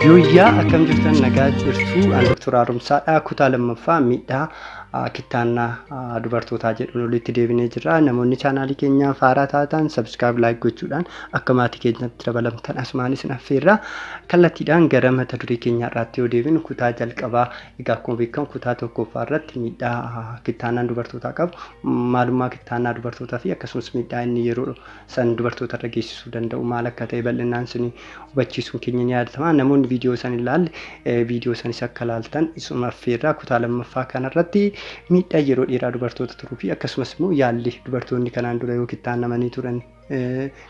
Yooyyaa akkam jirtan nagaa jirtu an Dr. Haaromsaadha kutaa lammaffaa miidhaa ah, kittaannaa ah, dubartootaa jedhuun olitti deebinee jirra namoonni chaanaalii keenyaa faaraa taatan sabskiraayib laayik gochuudhaan akka maatii keenyatti dabalamtan asumaan isin affeerra kallattiidhaan gara mata duree keenyaa irraatti yoo deebinu kutaa jalqabaa egaa akkuma beekamu kutaa tokkoffaa irratti miidhaa ah, kittaannaan dubartootaa qabu maalummaa kittaannaa dubartootaa fi akkasumas miidhaa inni yeroo san dubartoota irra geessisuu danda'u maal akka ta'e bal'inaan isin hubachiisuun keenya ni yaadatama. Namoonni viidiyoo san hin laalle viidiyoo sanis akka laaltan isuma affeerraa kutaa lammaffaa kanarratti miidhaa yeroo dheeraa dubartoota turuu fi akkasumas immoo yaalli dubartoonni kanaan dura yoo kittaannamanii turan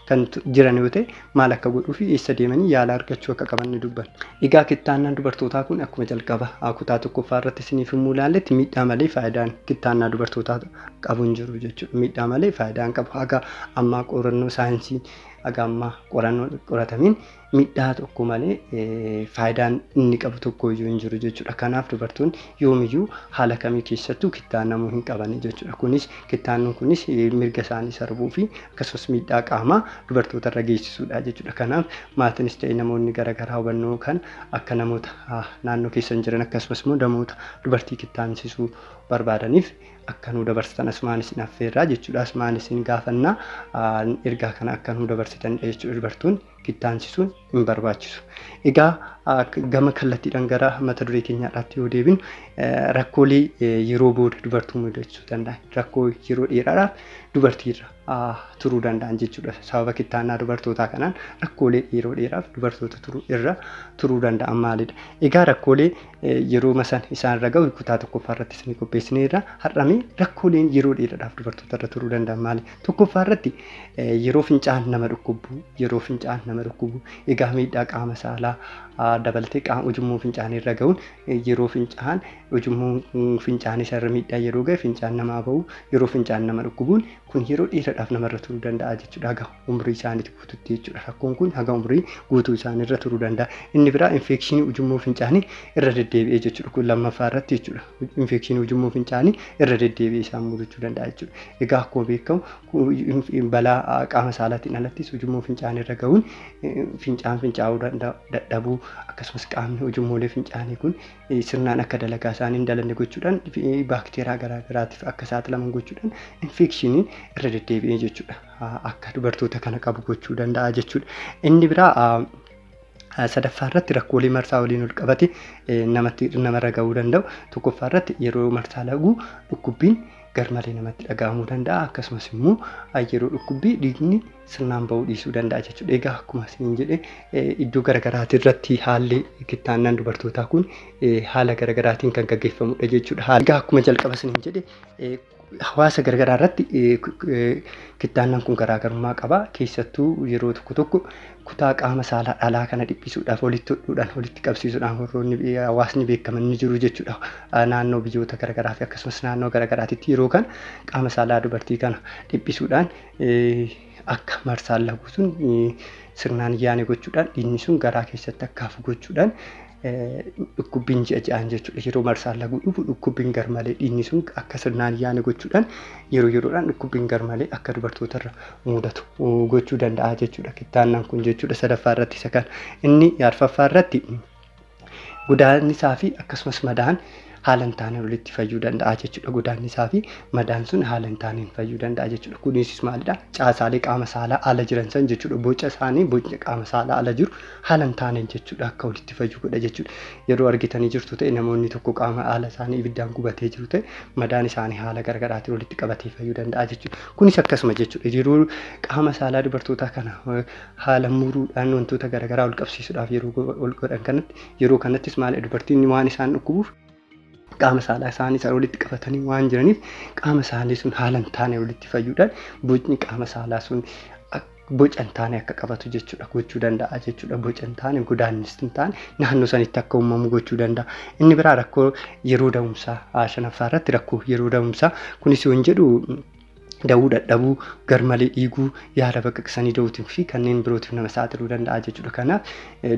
kan jiran yoo ta'e maal akka godhuu fi eessa deemanii yaala argachuu akka qaban ni dubbanna. Egaa kittaannaan dubartootaa kun akkuma jalqaba kutaa tokkoffaa irratti isiniif himuu ilaalletti miidhaa malee faayidaan kittaannaa dubartootaa qabu hin jiru jechuudha. Miidhaa malee faayidaa hin qabu. Haga ammaa qorannoo saayinsii haga ammaa qorannoon qoratamiin miidhaa tokko malee eh, faayidaan inni qabu tokko iyyuu hin jiru jechuudha. Kanaaf dubartoonni yoomiyyuu haala kamii keessattuu kittaannamuu hin qabani jechuudha. Kunis kittaannuun kunis eh, mirga isaanii sarbuu fi akkasumas miidhaa qaamaa dubartoota irra geessisuudha jechuudha. Kanaaf maatiinis ta'e namoonni garaagaraa hubannoo kan akka namoota ah, naannoo keessan jiran akkasumas immoo namoota dubartii kittaamsisuu barbaadaniif akka nuu dabarsitan asumaan isin affeerraa jechuudha asumaan isin gaafanna ergaa kana akka nuu dabarsitan jechuudha dubartoonni kittaansisuun hin barbaachisu. Egaa gama kallattiidhaan gara mata duree keenyaadhaatti yoo deebinu rakkoolee yeroo booda dubartuu mudachuu danda'an rakkoo yeroo dheeraadhaaf dubartiirra turuu danda'an jechuudha. Sababa kittaannaa dubartootaa kanaan rakkoolee yeroo dheeraaf dubartoota turuu irra turuu danda'an maalidha? Egaa rakkoolee yerooma san isaan irra gahu kutaa tokkoffaa irratti isinii qopheessineerra. Har'a mee rakkooleen yeroo dheeraadhaaf dubartoota irra turuu danda'an maali? Tokkoffaa irratti yeroo fincaan nama dhukkubu, yeroo fincaan nama dhukkubu, egaa miidhaa qaama saalaa dabaltee qaama ujummoo fincaanii irra gahuun yeroo fincaan ujummoo fincaanii isa irra miidhaa yeroo gahe fincaan namaa bahu, yeroo fincaan nama dhukkubuun kun yeroo dheeraadhaaf namarra turuu danda'a jechuudha gahu. umrii isaaniitti guututti jechuudha. Rakkoon kun haga umrii guutuu isaanii irra turuu danda'a. Inni biraa infeekshinii ujummoo fincaanii irra deddeebi'ee jechuudha. Kun lammaffaa irratti jechuudha. Infeekshinii ujummoo fincaanii irra deddeebi'ee isaan mudachuu danda'a jechuudha. Egaa akkuma beekamu ku- inf- balaa ah, qaama saalaatiin alattis ujummoo fincaanii irra ga'uun eh, fincaan fincaa'uu danda'a, dadhabuu akkasumas qaamni ujummoolee fincaanii kun eh, sirnaan akka dalagaa isaanii hin dalanne gochuudhaan fi- eh, baakteeraa garaagaraatiif akka saaxilaman gochuudhaan infeekshiniin irra deddeebi'ee jechuudha. akka dubartoota kana qabu gochuu danda'a jechuudha. Inni biraa sadaffaa irratti rakkoolee marsaa waliin ol qabate namatti namarra ga'uu danda'u. Tokkoffaa irratti yeroo marsaa lagu dhukkubbiin garmalee namatti dhaga'amuu danda'a. Akkasumas immoo yeroo dhukkubbii dhiigni sirnaan ba'uu dhiisuu danda'a jechuudha. Egaa akkuma isin jedhe iddoo garaagaraatii irratti haalli kittaannaan dubartootaa kun haala garaagaraatiin kan gaggeeffamudha jechuudha. Egaa akkuma jalqaba isin jedhe hawaasa garagaraa irratti kittaannan kun garaagarummaa qaba. Keessattuu yeroo tokko tokko kutaa qaama saalaa dhalaa kana dhiphisuudhaaf walitti hodhuudhaan walitti qabsiisuudhaan warroonni hawaasni beekaman ni jiru jechuudha. Naannoo biyyoota garagaraa fi akkasumas naannoo garagaraatitti yeroo kana qaama saalaa dubartii kana dhiphisuudhaan akka marsaan laguu sun sirnaan yaane gochuudhaan dhiigni sun garaa keessatti akka hafu gochuudhaan dhukkubbiin ji'a ja'aan jechuudha. Yeroo marsaan laguu dhufu dhukkubbiin garmalee dhiigni sun akka sirnaan yaane gochuudhaan yeroo yeroodhaan dhukkubbiin garmalee akka dubartootarra mudatu gochuu danda'a jechuudha. Kittaannaan kun jechuudha sadaffaa irratti isa kana. Inni arfaffaa irratti Godaannisaa fi akkasumas madaan haala hin taaneen walitti fayyuu danda'a jechuudha. Godaannisaa fi madaan sun haala hin taaneen fayyuu danda'a jechuudha. Kunis maalidha? Caasaalee qaama saalaa ala jiran san jechuudha. Boca isaanii bocni qaama saalaa ala jiru haala hin taaneen jechuudha akka walitti fayyu godha jechuudha. Yeroo argitanii jirtu ta'e namoonni tokko qaama haala isaanii ibiddaan gubatee jiru ta'e madaan isaanii haala garaagaraatiin walitti qabatee fayyuu danda'a jechuudha. Kunis akkasuma jechuudha. Yeroo qaama saalaa dubartootaa kana haala muruudhaan wantoota garaagaraa ol qabsiisuudhaaf yeroo ol godhan kanatti yeroo kanattis maal dubartoonni waan isaan dhukkubuuf qaama saalaa isaanii sana walitti qabatanii waan jiraniif qaama isaanii sun haala hin taane walitti fayyuudhaan bocni qaama saalaa sun boca hin taane akka qabatu jechuudha gochuu danda'a jechuudha boca hin taane godaannis hin taane naannoo sanitti akka uumamu gochuu danda'a inni biraa rakkoo yeroo da'umsaa shanaffaa irratti rakkoo yeroo da'umsaa kunis yoon jedhu da'uu dadhabuu, garmalee dhiiguu, yaala baqaqsanii da'uutiin fi kanneen birootiif nama saaxiluu danda'a jechuudha. Kanaaf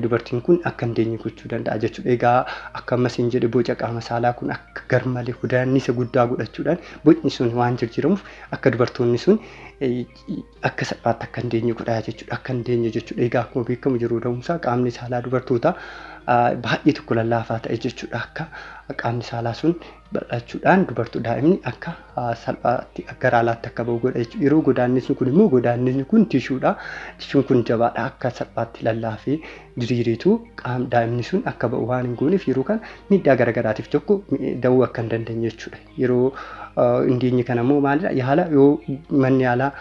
dubartiin kun akka hin deenye gochuu danda'a jechuudha. Egaa akka ammas hin jedhe boca qaama saalaa kun akka garmalee hudaannisa guddaa godhachuudhaan bocni sun waan jijjiiramuuf akka dubartoonni sun akka salphaatti akka hin deenye godhaa jechuudha. Akka hin deenye jechuudha. Egaa akkuma beekamu yeroo da'umsaa qaamni saalaa dubartootaa baay'ee tokko lallaafaa ta'e jechuudha. Akka qaamni saalaa sun bal'achuudhaan dubarto daa'imni akka salphaatti gara alaatti akka ba'u godha jechuudha. Yeroo godaannisni kun immoo godaannisni kun tishuudha. Tishuun kun jabaadha akka salphaatti lallaafee diriireetu qaam daa'imni sun akka ba'u waan hin gooneef yeroo kana miidhaa garagaraatiif tokko da'uu akka hin dandeenye jechuudha. Yeroo hin geenye kana immoo maalidha yaala yoo manni yaalaa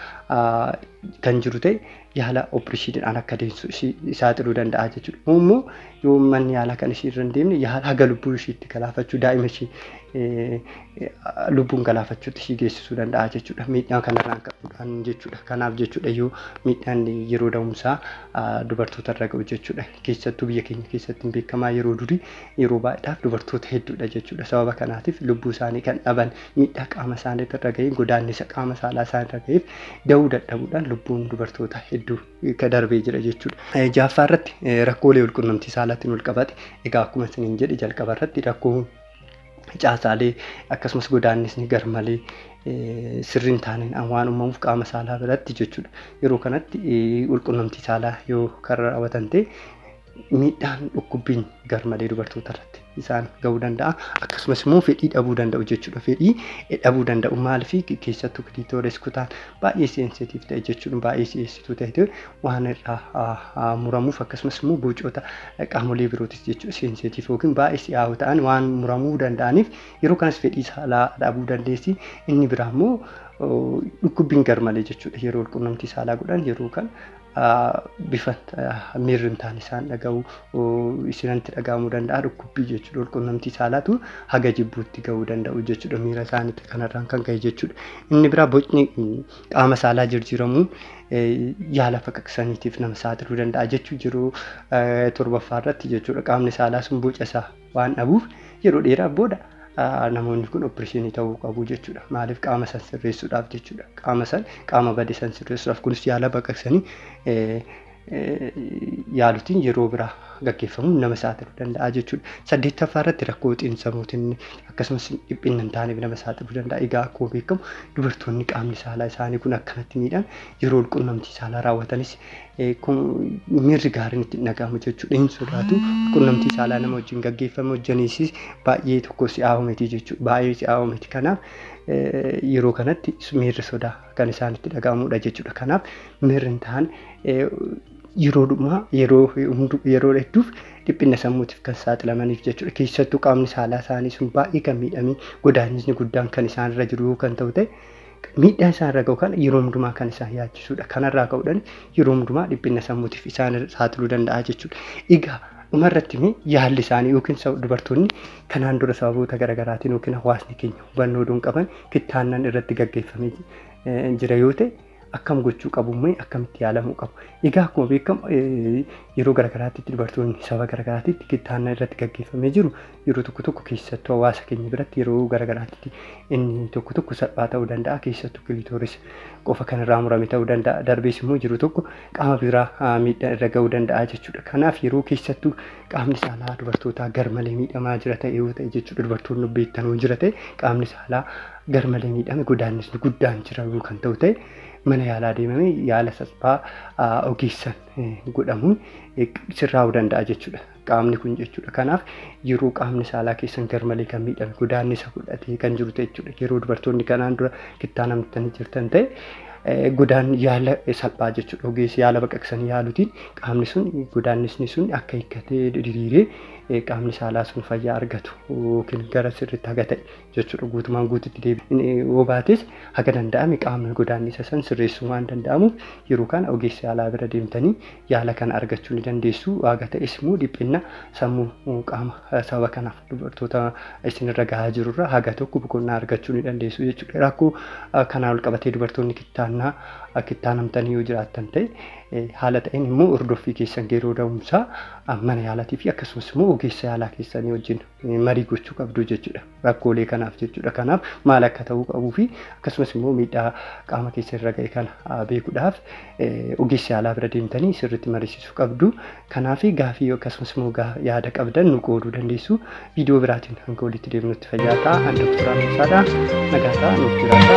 kan jiru ta'e yaala opereeshiniidhaan akka deessu ishii saaxiluu danda'a jechuudha. Kun immoo yoo manni yaalaa kan ishii irra hin deemne yaala haga lubbuu ishiitti galaafachuu daa'ima ishii eh, lubbuun galaafachuutti ishii geessisuu danda'a jechuudha. Miidhaa kanarraan ka'uudhaan jechuudha. Kanaaf jechuudha yoo miidhaan yeroo da'umsaa ah, dubartoota irra ga'u jechuudha. Keessattuu biyya keenya keessatti hin beekamaa yeroo durii yeroo baay'eedhaaf dubartoota hedduudha jechuudha. Sababa kanaatiif lubbuu isaanii kan dhaban miidhaa qaama isaanii irra ga'een godaannisa qaama saalaa isaan irra ga'eef da'uu dadhabuudhaan lubbuun dubartoota hedduu ka darbee jira jechuudha. Eh, Jaaffaa irratti eh, rakkoolee walqunnamtii saalaatiin wal qabate egaa akkuma isiniin jedhe jalqaba irratti rakkoo caasaalee akkasumas godaannisni garmalee eh, sirrii hin taaneen waan uumamuuf qaama saalaa biratti jechuudha. Yeroo kanatti eh, walqunnamtii saalaa yoo kan raawwatan ta'e miidhaan dhukkubbiin garmalee dubartoota irratti isaan ga'uu danda'a. Akkasumas immoo fedhii dhabuu danda'u jechuudha. Fedhii dhabuu danda'u maaliif keessattuu kiliitoores kutaan baay'ee seensitiif ta'e jechuun baay'ee si'eessituu ta'e waan irraa muramuuf akkasumas immoo bocoota qaamolee birootis jechuudha seensitiif yookiin baay'ee si'aawoo ta'an waan muramuu danda'aniif yeroo kanas fedhii saalaa dhabuu dandeessi. Inni biraa immoo dhukkubbiin garmalee jechuudha yeroo walqunnamtii saalaa godhan yeroo kan bifa miirri hin taane isaan dhaga'u isinantti dhaga'amuu danda'a dhukkubbii jechuudha walqunnamtii saalaatu haga jibbuutti ga'uu danda'u jechuudha miira isaaniitti kanarraan kan ka'e jechuudha inni biraa bocni qaama saalaa jirjiiramuun yaala faqaqsaniitiif nama saaxiluu danda'a jechuu jiru torbaffaa irratti jechuudha qaamni saalaa sun boca isaa waan dhabuuf yeroo dheeraaf booda namoonni kun oppirishinii ta'uu qabu jechuudha. Maaliif qaama san sirreessuudhaaf jechuudha. Qaama san qaama bade san sirreessuudhaaf kunis yaala baqaqsanii yaalutiin yeroo biraa gaggeeffamuun nama saaxiluu danda'a jechuudha. Saddeettaffaa irratti rakkoo xiinsammuutiin akkasumas dhiphinna hin taaneef nama saaxiluu danda'a. Egaa akkuma beekamu dubartoonni qaamni saalaa isaanii kun akkanatti miidhan yeroo qunnamtii saalaa raawwatanis miirri gaariin itti hin dhaga'amu jechuudha. Hin sodaatu. Qunnamtii saalaa nama wajjin gaggeeffame hojjaniisis baay'ee tokko si'aawoo miti jechuudha. Baay'ee si'aawoo miti. Kanaaf yeroo kanatti miirri sodaa kan isaan itti dhaga'amudha jechuudha. Kanaaf miirri hin taane yeroo dhumaa yeroo yeroo hedduuf dhiphina sammuutiif kan saaxilamaniif jechuudha. Keessattuu qaamni saalaa isaanii sun baay'ee kan miidhamee godaannisni guddaan kan isaan irra jiru kan ta'u ta'e miidhaa isaan irra ga'u kana yeroo hundumaa kan isaan yaachisudha. Kanarraa ka'uudhaan yeroo hundumaa dhiphina sammuutiif isaan saaxiluu danda'a jechuudha. Egaa dhuma irratti mee yaalli isaanii yookiin sab- dubartoonni kanaan dura sababoota garaagaraatiin yookiin hawaasni keenya hubannoo oduun qaban kittaannan irratti gaggeeffamee eh, jira yoo ta'e akkam gochuu qabu mee akkamitti yaalamuu qabu. Egaa akkuma beekamu eh, yeroo garaagaraatti dubartoonni saba garaagaraatti kittaannan irratti gaggeeffamee jiru Yeroo tokko tokko keessattuu hawaasa keenya biratti yeroo gara garaatti inni tokko tokko salphaa ta'uu danda'a. Keessattuu kilitooris qofa kan irraa murame ta'uu danda'a. Darbees immoo jiru tokko qaama biraa miidhaa irra ga'uu danda'a jechuudha. Kanaaf yeroo keessattuu qaamni saalaa dubartootaa garmalee miidhamaa jira ta'e yoo ta'e jechuudha dubartoonni beektan yoo jira ta'e qaamni saalaa garmalee miidhame godaannisni guddaan jira yoo kan ta'u ta'e mana yaalaa deemamee yaala salphaa ogeessan godhamuun sirraa'uu danda'a jechuudha. qaamni kun jechuudha. Kanaaf yeroo qaamni saalaa keessan garmalee kan miidhame godaannisa fudhatee kan jiru ta'e jechuudha. Yeroo dubartoonni kanaan dura kittaa namtanii jirtan ta'e eh, godaan yaala salphaa jechuudha. Ogeessi yaala baqaqsanii yaalutiin qaamni sun godaannisni sun akka hiikkatee diriiree eh, qaamni saalaa sun fayyaa argatu yookiin gara sirriitti haga ta'e jechuudha guutumaan guututti deebi'uu baates haga danda'ame qaamni godaannisa san sirreessuu waan danda'amuuf yeroo kana ogeessa yaalaa bira deemtanii yaala kana argachuu ni dandeessu haga ta'es immoo dhiphinna sammuu qaama sababa kanaaf dubartoota isinirra gahaa jirurra haga tokko boqonnaa argachuu ni dandeessu jechuudha rakkoo kanaa ol qabatee dubartoonni kittaannaa kittaanamtanii yoo jiraattan ta'e haala ta'een immoo hordoffii keessan yeroo da'umsaa mana yaalaatii fi akkasumas immoo ogeessa yaalaa keessanii wajjin marii gochuu qabdu jechuudha. Rakkoolee kanaaf jechuudha. Kanaaf maal akka ta'uu qabuu fi akkasumas immoo miidhaa qaama keessa irra ga'e kana beekuudhaaf ogeessi yaalaa bira deemtanii sirriitti mariisisuu qabdu. Kanaaf gaafii akkasumas immoo yaada qabdan nu qooduu dandeessu. Viidiyoo biraatiin hanga walitti deemnutti fayyaa ta'a. Ani Dr. Ameesaadha. Nagaa ta'a nuuf jiraadha.